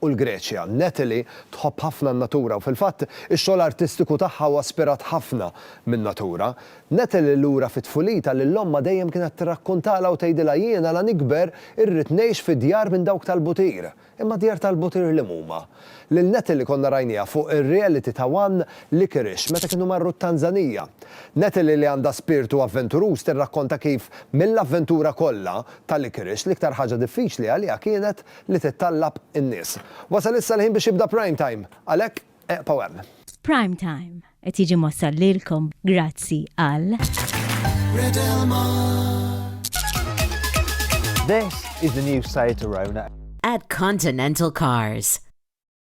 u l-Greċja. Natalie tħobb ħafna n-natura u fil-fatt, ix-xogħol artistiku tagħha huwa spirat ħafna min-natura. Natalie lura fi tfulitha lil ommha dejjem kienet tirrakkuntalha u tgħidilha jiena la nikber irrid ngħix fi djar minn dawk tal-butir. Imma djar tal-butir liema huma? Lil Natalie konna rajniha fuq ir-reality ta' one Licorice meta kienu marru t-Tanzanija. Natalie li għandha spirtu avventuruż tirrakkonta kif mill-avventura kollha ta' Licorice l-iktar ħaġa diffiċli għaliha kienet li tittallab in-nies. Wasal issa l-ħin biex jibda Prime Time, għalhekk eqpgħu hemm. Prime Time qed jiġi mwassal lilkom grazzi għal. This is the new site to Rona. At Continental Cars.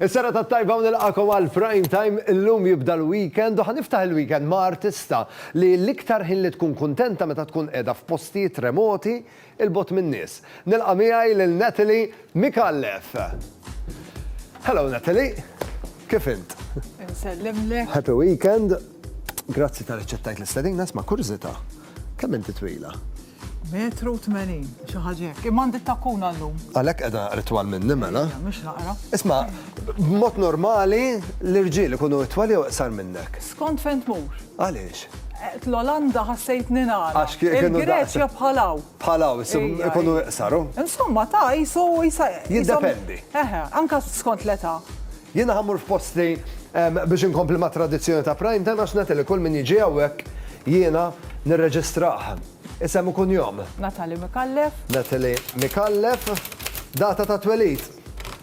Is-serata t-tajba u nilqagħkom għal Prime Time, illum jibda l-weekend u ħa niftaħ il-weekend ma' artista li l-iktar ħin li tkun kuntenta meta tkun qiegħda f'postijiet remoti 'il bogħod min-nies. Nilqa' miegħi lil Natalie Micallef. Hello Natalie, kif int? Insellimlek. Happy weekend. Grazzi tal-li ċċettajt l-istedina, isma' kurżita', kemm inti twila? Metru u tmenin, xi ħaġa hekk. Imma għandi t-takkuna llum. Għalhekk qiegħda naqra twal minni mela. Ejja, mhux naqra. Isma', b'mod normali l-irġiel ikunu itwal jew iqsar minnek? Skont fejn tmur. Għaliex? Qed l-Olanda ħassejtni nagħlaq. Għax kie- kienu daqs- Il-Greċja bħal hawn. Bħal hawn, isib- Ejja, ikunu ejja. iqsaru. Insomma, ta' jisu jisa. Jiddependi. Eħe, anka skont l-età. Jiena ħa mmur f'posti biex inkompli mat-tradizzjoni ta' Prime Time għax nagħti li kull min jiġi hawnhekk jiena nirreġistrah. Isem u kunjom. Natalie Micallef. Natalie Micallef. Data ta' twelid.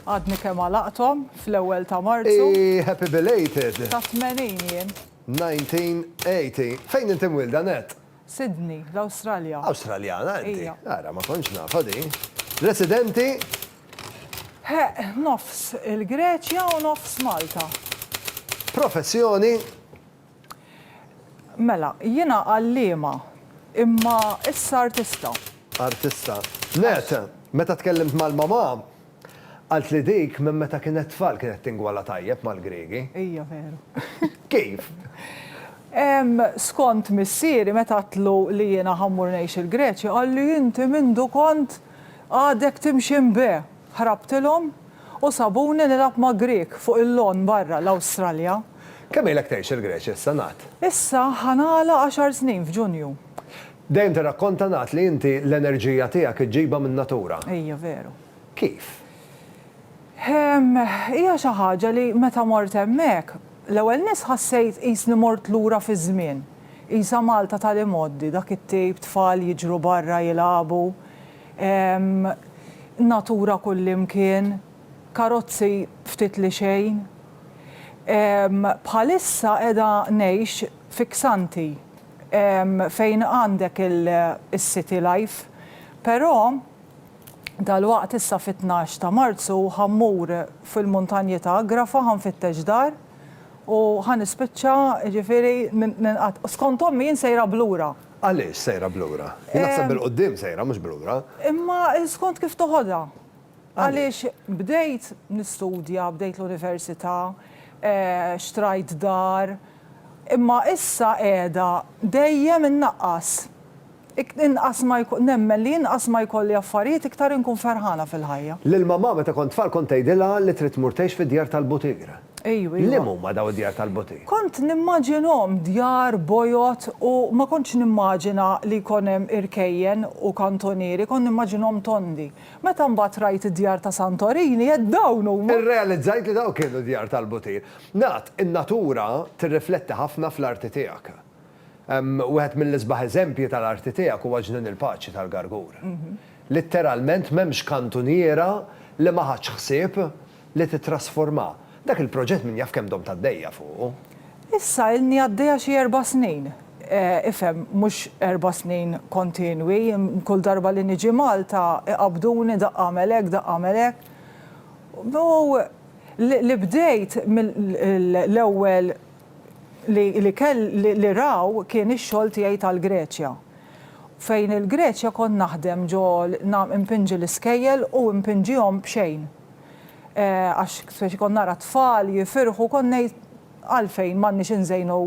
Għadni kemm għalaqthom fl-ewwel ta' Marzu. Ii happy belated. Ta' 80 jien. 1980. Fejn inti mwielda, Nat? Sydney, l-Awstralja. Awstraljana inti? Ija. Ara, ma kontx nafha din. Residenti? Ħeqq, nofs il-Greċja u nofs Malta. Professjoni? Mela, jiena għalliema, imma issa artista. Artista. Nett, meta tkellimt mal-mamà, qalt li dik minn meta kienet tfal kienet tingwala tajjeb mal-Griegi. Hija veru. Kif? Ehm, skont missieri meta għedtlu li jiena ħa mmur ngħix il-Greċja, qalli inti mindu kont Għadek timxi mbe! Ħrabtilhom u sabuni nilgħab ma' Grieg fuq il-lawn barra l-Awstralja. Kemm ilek tgħix il-Greċja issa, Nat? Issa ħa nagħlaq għaxar snin f'Ġunju. Dejjem tirrakkonta, Nat, li inti l-enerġija tiegħek iġġibha min-natura. Hija veru. Kif? Hija xi ħaġa li meta mort hemmhekk, l-ewwel nett ħassejt qisni mort lura fiż-żmien. Qisha Malta tal-imgħoddi, dak it-tejp, tfal jiġru barra jilagħbu, natura kullimkien, karozzi ftit li xejn. Bħalissa qiegħda ngħix fi Xanthi fejn għandek il-city life, però, Dalwaqt issa fit-tnax ta' Marzu ħa mmur fil-muntanji ta' Agrafa ħa nfittex dar u ħa nispiċċa jiġifieri ninqat'. Skont ommi jien sejra b'lura. Għaliex sejra b'lura? Jien naħseb bil-quddiem sejra mhux b'lura. Imma skont kif toħodha. Għaliex bdejt nistudja, bdejt l-università, xtrajt dar, Imma issa qiegħda dejjem innaqqas. Ik, inqas ma jko, nemmen li inqas ma jkolli affarijiet iktar inkun ferħana fil-ħajja. Lil mamà meta kont tfal kont tgħidilha li trid tmur tgħix fid-djar tal-butir. Ejju, ejju. Liem huma daw id-djar tal-butir? Kont nimmaġinhom djar bojod u ma kontx nimmaġina li jkun hemm irkejjen u kantonieri, kont nimmaġinhom tondi. Meta mbagħad rajt id-djar ta' Santorini għedt dawn huma! Irrealizzajt li dawn kienu djar tal-butir. Nat, in-natura tirrifletti ħafna fl-arti tiegħek. Wieħed mill-isbaħ eżempji tal-arti tiegħek huwa Ġnien il-Paċi tal-Gargur. Litteralment m'hemmx kantuniera li ma ħadtx ħsieb li tittrasformha. Dak il-proġett min jaf kemm domt għaddejja fuqu? Issa ilni għaddejja xi erba' snin. Ifhem, mhux erba' snin kontinwi, kull darba li niġi Malta iqabbduni daqq agħmel hekk, daqq agħmel hekk. U Li bdejt l-ewwel li kell li raw kien ix-xogħol tiegħi tal-Greċja. Fejn il-Greċja kont naħdem ġo impinġi l-iskejjel u impinġihom b'xejn. Għax speċi kont nara t-tfal jifirħu kont ngħid għalfejn m'għandniex inżejnu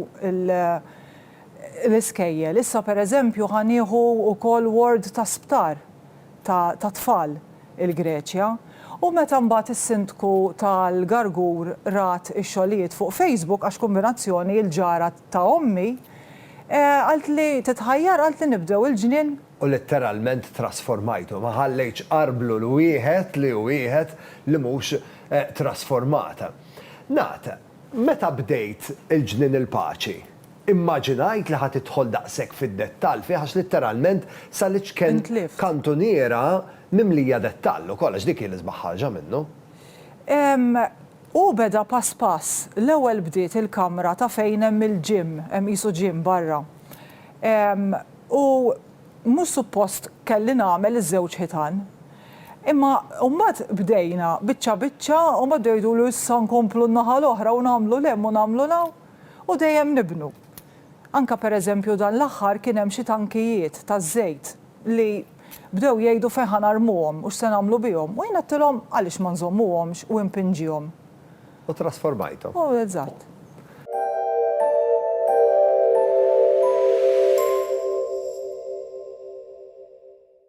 l-iskejjel. Issa pereżempju ħa nieħu wkoll ward ta' sptar. tat-tfal il-Greċja. U meta mbagħad is-Sindku tal-Gargur rat ix-xogħlijiet fuq Facebook għax kumbinazzjoni il-ġara ta' ommi, qaltli titħajjar qaltli nibdew il-ġnien. U litteralment trasformajtu, ma ħallejtx arblu 'l wieħed li hu wieħed li mhux trasformat. Ngħad, meta bdejt il-ġnien il-paċi? Immaġinajt li ħa tidħol daqshekk fid-dettall fih għax litteralment sa l-iċken kantuniera mimlija dettall ukoll għax dik hi l-isbaħ ħarġa minnu. Hu beda pass pass. L-ewwel bdiet il-kamra ta' fejn hemm il-gym, hemm qisu gym barra. U mhux suppost kelli nagħmel iż-żewġ ħitan. Imma u mbagħad bdejna biċċa biċċa u mbagħad bdew jgħidulu issa nkomplu n-naħa l-oħra u nagħmlu 'l hemm u nagħmlu 'l hawn. u dejjem nibnu. Anke pereżempju dan l-aħħar kien hemm xi tankijiet taż-żejt li bdew jgħidu fejn ħa narmuhom u x'se nagħmlu bihom u jien għedtilhom għaliex ma nżommuhomx u impinġihom. U trasformajthom. U eżatt.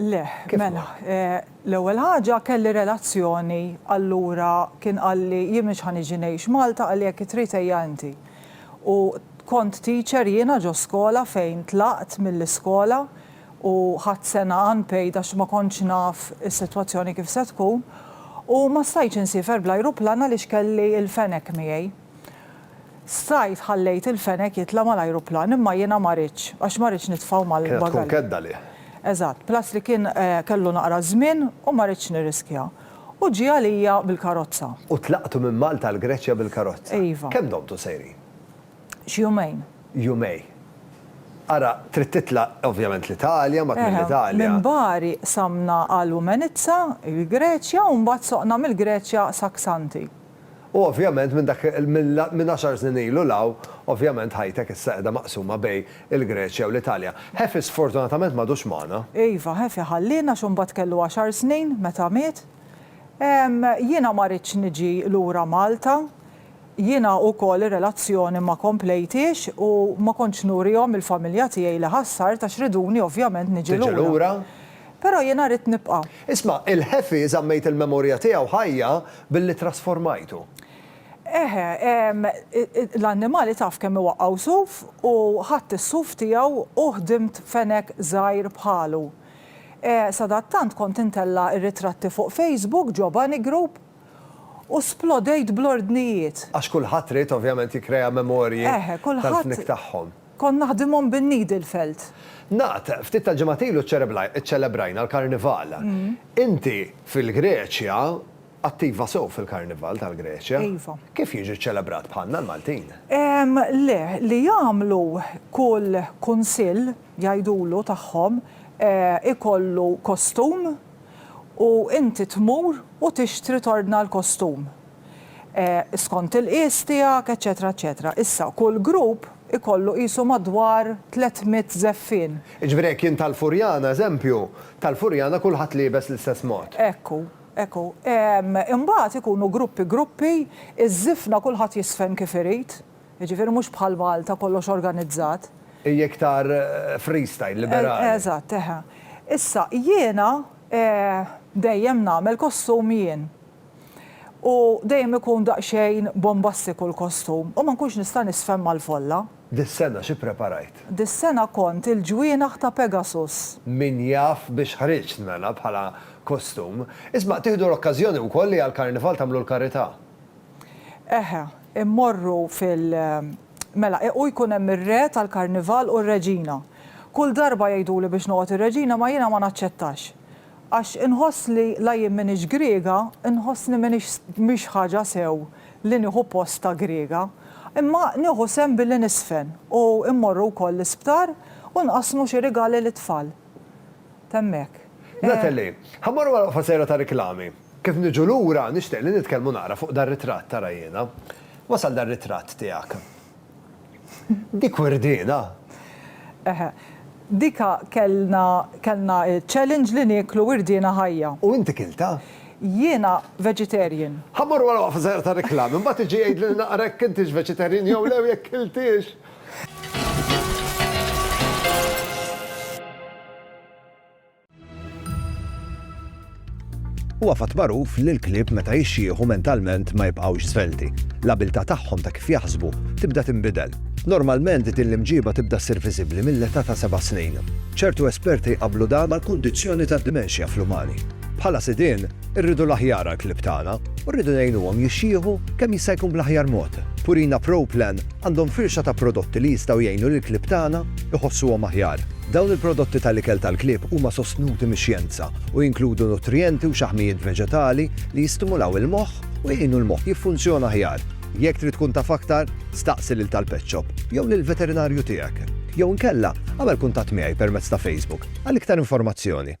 Le, mela, l-ewwel ħaġa kelli relazzjoni allura kien qalli jien mhux ħa niġi ngħix Malta qalli jekk trid ejja inti. U kont teacher jiena ġo skola fejn tlaqt mill-iskola u ħadt sena unpaid għax ma kontx naf is-sitwazzjoni kif se tkun u ma stajtx insiefer bl-ajruplan għaliex kelli l-fenek miegħi. Strajt ħallejt il-fenek jitla' mal-ajruplan imma jiena ma ridtx għax ma ridtx nitfgħu mal-bagalja. Kienet tkun kedda għalih. Eżatt, plus li kien kellu naqra żmien u ma ridtx nirriskja. U ġie għalija bil-karozza. U tlaqtu minn Malta għall-Greċja bil-karozza. Iva. Kemm domtu sejrin? Xi jumejn. Jumejn. Ara, trid titla' ovvjament l-Italja, mbagħad mill-Italja. Minn Bari qsamna għal Umenitsa, il-Greċja, u mbagħad soqna mill-Greċja sa Xanthi. U ovvjament minn dak minn għaxar snin ilu 'l hawn, ovvjament ħajtek issa qiegħda maqsuma bejn il-Greċja u l-Italja. Ħefi sfortunatament m'għadux magħna. Iva, Ħefi ħalliena għax imbagħad kellu għaxar snin meta miet. Ehm, jiena ma ridtx niġi lura Malta. Jiena ukoll ir-relazzjoni ma komplejthiex u ma kontx nurihom il-familja tiegħi li ħassart għax riduni ovvjament niġi lura. Tiġi lura? Però jiena rrid nibqa'. Isma', il-ħefi żammejt il-memorja tiegħu ħajja billi ttrasformajtu. Eħe, l-annimali taf kemm iwaqqgħu suf u ħadt is-suf tiegħu u ħdimt fenek żgħir bħalu. Sadattant kont intella' r-ritratti fuq Facebook ġo Bunny Group U splodejt bl-ordnijiet. Għax kulħadd ried ovvjament jikkrea memorji tal-fnik tagħhom. Eħe, kulħadd kont naħdimhom bin-needle felt. Naqt, ftit tal-ġimgħat ilu ċċelebrajna l-Karnival. Inti fil-Greċja attiva sew fil-Karnival tal-Greċja. Iva. Kif jiġi ċċelebrat bħalna l-Maltin? Ehm, le, li jagħmlu kull kunsill, jgħidulu, tagħhom, ikollu kostum. u inti tmur u tixtri tordna l-kostum skont il-qies tiegħek eċċetera eċċetera. Issa, kull grupp ikollu qisu madwar tliet mitt żeffien. Jiġifieri jekk jien tal-Furjana, eżempju, tal-Furjana kulħadd liebes l-istess mod. Hekk hu, hekk hu. Imbagħad ikunu gruppi gruppi, iż-żifna kulħadd jiżfen kif irid. jiġifieri mhux bħal Malta kollox organizzat. Hija iktar freestyle, liberali. Eżatt, eħe. Issa, jiena dejjem nagħmel kostum jien. U dejjem ikun daqsxejn bombastiku l-kostum u ma nkunx nista' nisfhem mal-folla. Dis-sena xi ppreparajt? Dis-sena kont il-ġwienaħ ta' Pegasus. Min jaf biex ħriġt mela bħala kostum. Isma', tieħdu l-okkażjoni wkoll li għall-Karnival tagħmlu l-karità. Eħe, immorru fil. Mela, e u jkun hemm ir-Re tal-Karnival u r-Reġina. Kull darba jgħiduli biex noqgħod ir-Reġina ma jiena ma naċċettax. Għax inħoss li la jien m'iniex Griega, inħossni m'iniex mhix ħaġa sew li nieħu post ta' Griega. Imma nieħu sehem billi niżfen u mmorru wkoll l-isptar u nqassmu xi rigali lit-tfal. t'hemmhekk. Natalie, Ħa mmorru għal waqfa sejra ta' riklami. Kif niġu lura, nixtieq li nitkellmu naqra fuq dar-ritratt, ara jiena. Wasal dar-ritratt tiegħek. Dik wirdiena! Eħe. Dik kellna, kellna ċ-challenge li nieklu wirdiena ħajja. U inti kiltha? Jiena vegetarian. Ħa mmorru għal waqfa sejra ta' riklami, mbagħad iġi jgħidli naqra jekk intix vegetarian jew le u jekk kiltiex. Huwa fatt magħruf li l-klieb meta jixxieħu mentalment ma jibqgħux svelti. L-abilità tagħhom ta' kif jaħsbu tibda tinbidel. Normalment din l-imġiba tibda ssir viżibbli mill-età ta' seba' snin. ċertu esperti jqabblu dan mal-kundizzjoni tad-dimenxja fl-umani. Bħala sidien, Irridu l-aħjar għall-klieb tagħna u rridu ngħinuhom jixjieħu kemm jista' jkun bl-aħjar mod. Purina Pro Plan għandhom firxa ta' prodotti li jistgħu jgħinu lill-klieb tagħna jħossuhom aħjar. Dawn il-prodotti tal-ikel tal-klieb huma sostnuti mix-xjenza u jinkludu nutrijenti u xaħmijiet veġetali li jistimulaw il-moħħ u jgħinu l-moħħ jiffunzjona aħjar. Jekk trid tkun taf aktar, staqsi lil tal-pet shop jew lill-veterinarju tiegħek. Jew inkella, agħmel kuntatt miegħi permezz ta' Facebook għal iktar informazzjoni.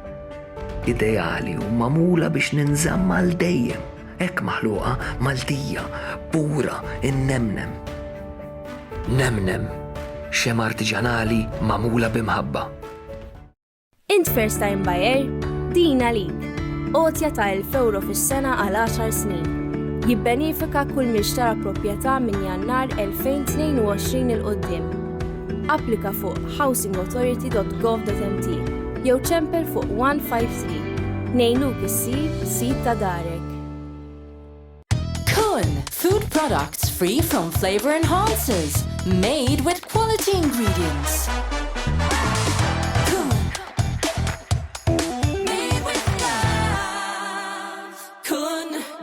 ideali u magħmula biex ninżamm għal dejjem, hekk maħluqa Maltija, pura, innemnem. Nemnem, xem artiġanali magħmula b'imħabba. Int first time buyer? Din għalik. Għotja ta' 1000 euro fis-sena għal 10 snin. Jibbenifika kull min xtara proprjetà minn Jannar 2022 il-qoddim. Applika fuq housingauthority.gov.mt jew ċempel fuq 153 ngħinuk issir sid ta' darek. Kun, food products free from flavor enhancers, made with quality ingredients.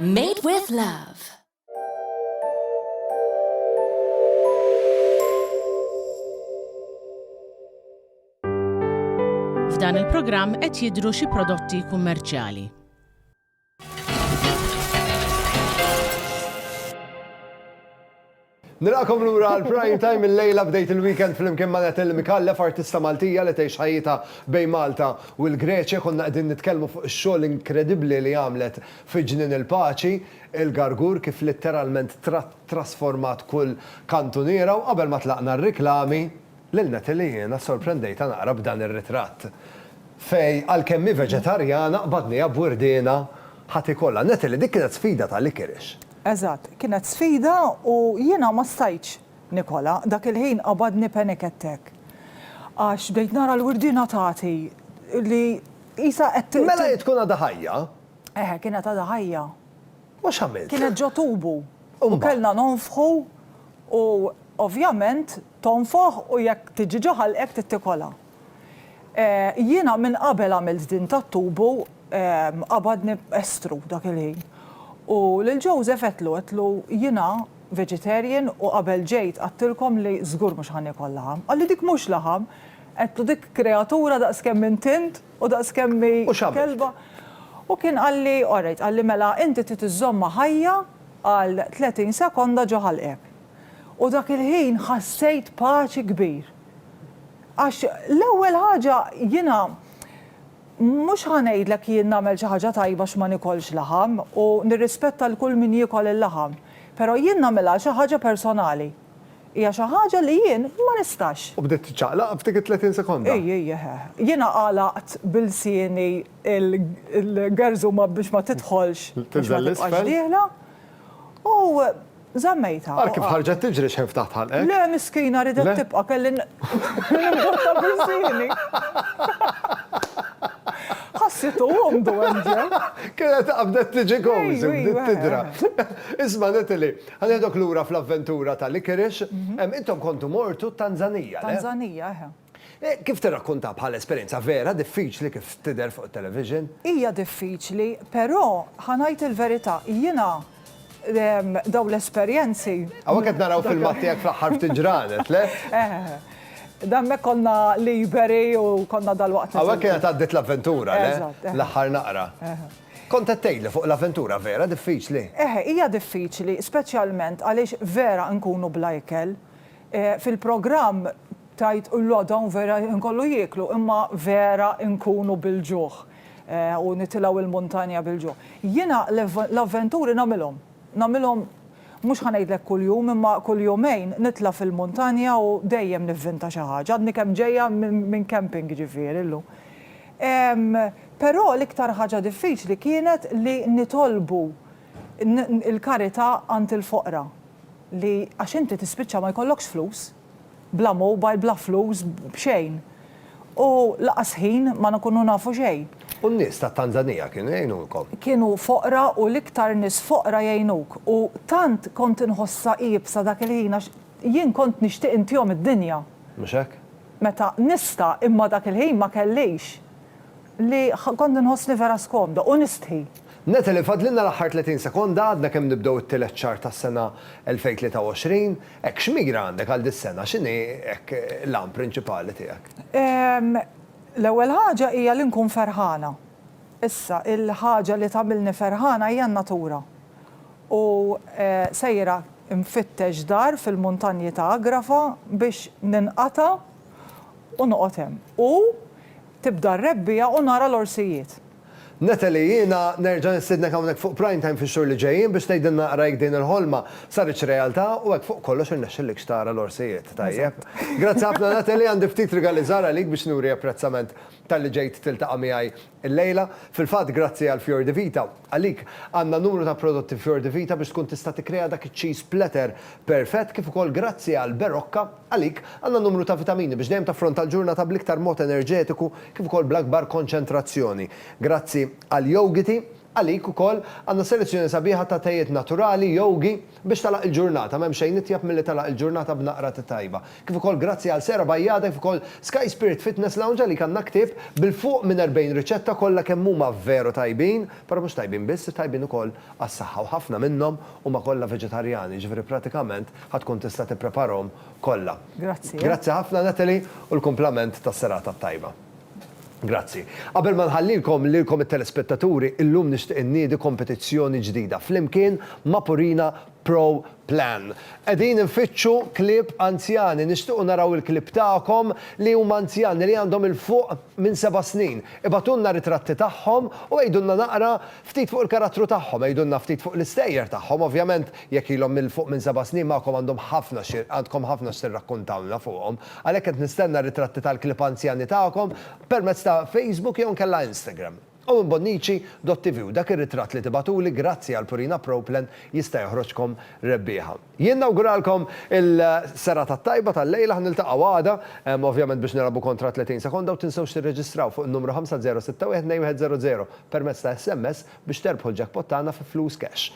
Made with love. F'dan il-programm qed jidhru xi prodotti kummerċjali. Nilqakom lura għal prime time il-lejla bdejt il-weekend fl-imkien ma' Natalie Mikallef, artista Maltija li tgħix ħajjita bejn Malta u l-Greċja. Konna qegħdin nitkellmu fuq ix-xogħol inkredibbli li għamlet fi ġnien il-paċi. Il-gargur kif litteralment trasformat kull kantuniera u qabel ma tlaqna r-riklami, lil Natalie jiena ssorprendejtha naqra b'dan ir-ritratt. Fay, għalkemm hi veġetarjana, qbadniha b'wirdiena ħa tikolha. Natalie, dik kienet sfida ta' likirix. Eżatt, kienet sfida u jiena ma stajtx nikolha. Dak il-ħin qabadni panic attack għax bdejt nara l-wirdiena tagħti li qisha qed. Mela hi tkun għadha ħajja? Eħe, kienet għadha ħajja. U x'għamilt? Kienet ġo tubu. U kellna nonfħu u ovvjament tonfoħ u jekk tiġi ġo ħalqek trid tikolha. Jiena minn qabel għamilt din tat-tubu qabadni estru dak il-ħin. U lil Joseph għedtlu, għedtlu jiena vegetarian u qabel ġejt għadtilkom li żgur mhux ħa niekol laħam. Qalli dik mhux laħam, għedtlu dik kreatura daqs kemm int int. U daqskemm hi kelba. U kien qalli, alright, qalli mela inti trid iżżommha ħajja għal 30 sekonda ġo ħalqek. U dak il-ħin ħassejt paċi kbir. Għax l-ewwel ħaġa jiena mhux ħa ngħidlek jien nagħmel xi ħaġa tajba għax ma nikolx laħam u nirrispetta 'l kull min jiekol il-laħam, però jien nagħmilha xi ħaġa personali. Hija xi ħaġa li jien ma nistax. U bdiet tiċċaqlaq f'dik it-tletin sekonda? Ii, ii, eħe. Jiena għalaqt b'ilsieni l-gerżuma biex ma tidħolx, biex ma tibqax dieħla, u żammejtha. Ara kif ħarġet tiġri xejn ftaħt ħalqek. Le, miskina, ridet tibqa', kelli nimbotta b'ilsieni. Ħassitu għomdu hemm ġew. Kienet qabdet tiġi kowżi, bdiet tidra. Isma' Natalie. Ħa nieħdok lura fl-avventura ta' Licorice. Intom kontu mortu t-Tanzanija, le? Tanzanija, eħe. Kif tirrakkuntha bħala esperjenza vera diffiċli kif tidher fuq it-television? Hija diffiċli, però ħa ngħid il-verità, jiena dawn l-esperjenzi. Hawnhekk qed naraw filmat tiegħek fl-aħħar ftit ġranet, le? Eħe. Hemmhekk konna liberi u konna dalwaqt. Hawnhekk kienet għaddiet l-avventura, le? Eżatt. L-aħħar naqra. Eħe. Kont qed tgħidli fuq l-avventura, vera diffiċli. Eħe, hija diffiċli, speċjalment għaliex vera nkunu bla ikel. Fil-programm tgħid le dawn vera nkollu jieklu, imma vera nkunu bil-ġuħ u nitilgħu l-muntanja bil-ġuħ. Jiena l-avventuri nagħmilhom. Nagħmilhom, mhux ħa ngħidlek kuljum, imma kull jumejn nitla' fil-muntanja u dejjem nivvinta xi ħaġa. Għadni kemm ġejja minn camping jiġifieri llum. Però l-iktar ħaġa diffiċli kienet li nitolbu l-karità għand il-foqra li għax inti tispiċċa ma jkollokx flus. Bla mobile, bla flus, b'xejn. U lanqas ħin ma nkunu nafu xejn. U n-nies tat-Tanzanija kienu jgħinulkom? Kienu foqra u l-iktar nies foqra jgħinuk. U tant kont inħossha iebsa dak il-ħin għax jien kont nixtieq intihom id-dinja. Mhux hekk? Meta nista' imma dak il-ħin ma kellix. Li kont inħossni vera skomda u nistħi. Natalie, fadlilna l-aħħar 30 sekonda għadna kemm nibdew it-tielet xahar tas-sena 2023. Hekk x'mira għandek għal dis-sena? X'inhi hekk l-għan prinċipali tiegħek? L-ewwel ħaġa hija li nkun ferħana. Issa, il-ħaġa li tagħmilni ferħana hija n-natura. U sejra nfittex dar fil-muntanji ta' Agrafa biex ninqata' u noqgħod hemm. U tibda r-rebbiegħa u nara l-orsijiet. Natalie, jiena nerġa' nistiednek hawnhekk fuq Prime Time fix-xhur li ġejjin biex tgħidilna naqra jekk din il-ħolma saritx realtà u hekk fuq kollox irnexxillikx tara l-orsijiet tajjeb. Grazzi ħafna Natalie, għandi ftit rigali żgħar għalik biex nuri apprezzament talli ġejt tiltaqa' miegħi llejla. Fil-fatt grazzi għal Fior di Vita, għalik għandna numru ta' prodotti Fior di Vita biex tkun tista' tikkrea dak iċ-cheese platter perfett kif ukoll grazzi għal Berocca, Għalik, għandna numru ta' vitamini biex dejjem taffronta l-ġurnata bl-iktar mod enerġetiku kif ukoll bl-akbar konċentrazzjoni. Grazzi għal Yougity, għalik ukoll, għandna selezzjoni sabiħa ta' tejiet naturali, Youghi, biex tagħlaq il-ġurnata, m'hemm xejn itjeb milli tagħlaq il-ġurnata b'naqra te tajba. Kif ukoll grazzi għal Sera Bajjada kif ukoll Sky Spirit Fitness Lounge għalik għandna ktieb bil-fuq minn 40 riċetta kollha kemm huma veru tajbin, però mhux tajbin biss, tajbin ukoll għas-saħħa u ħafna minnhom huma kollha veġetarjani, jiġifieri pratikament Ħa tkun tista' tippreparahom kollha. Grazzi, eh. Grazzi ħafna, Natalie, u l-kumplament tas-serata t-tajba. Grazzi. Qabel ma nħallilkom lilkom it-telespettaturi, illum nixtieq inniedi kompetizzjoni ġdida flimkien ma' Purina Pro Plan. Qegħdin infittxu klieb anzjani, nixtiequ naraw il-klieb tagħkom li huma anzjani li għandhom 'il fuq minn seba' snin. Ibgħatulna ritratti tagħhom u għidulna naqra ftit fuq il-karattru tagħhom, għidulna ftit fuq l-istejjer tagħhom, ovvjament Jekk ilhom 'l fuq minn seba' snin magħkom għandhom ħafna xi għandkom ħafna x'tirrakkuntawlna fuqhom. Għalhekk qed nistenna r-ritratti tal-klieb anzjani tagħkom permezz ta' Facebook jew inkella Instagram. Owen Bonnici, dott-TV u dak ir-ritratt li tibagħtuli grazzi għal Purina Pro Plan jista' joħroġkom rebbieħa. Jien nawguralkom il-serata t-tajba tal-lejla, ħa niltaqgħu għada, ovvjament biex nilgħabu kontra 30 sekonda u tinsewx tirreġistraw fuq in-numru 50612100 permezz ta' SMS biex terbħu l-jackpot tagħna fi flus cash.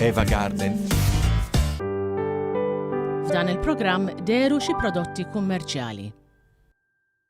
Eva Garden. F'dan il-programm deru xi prodotti kummerċjali.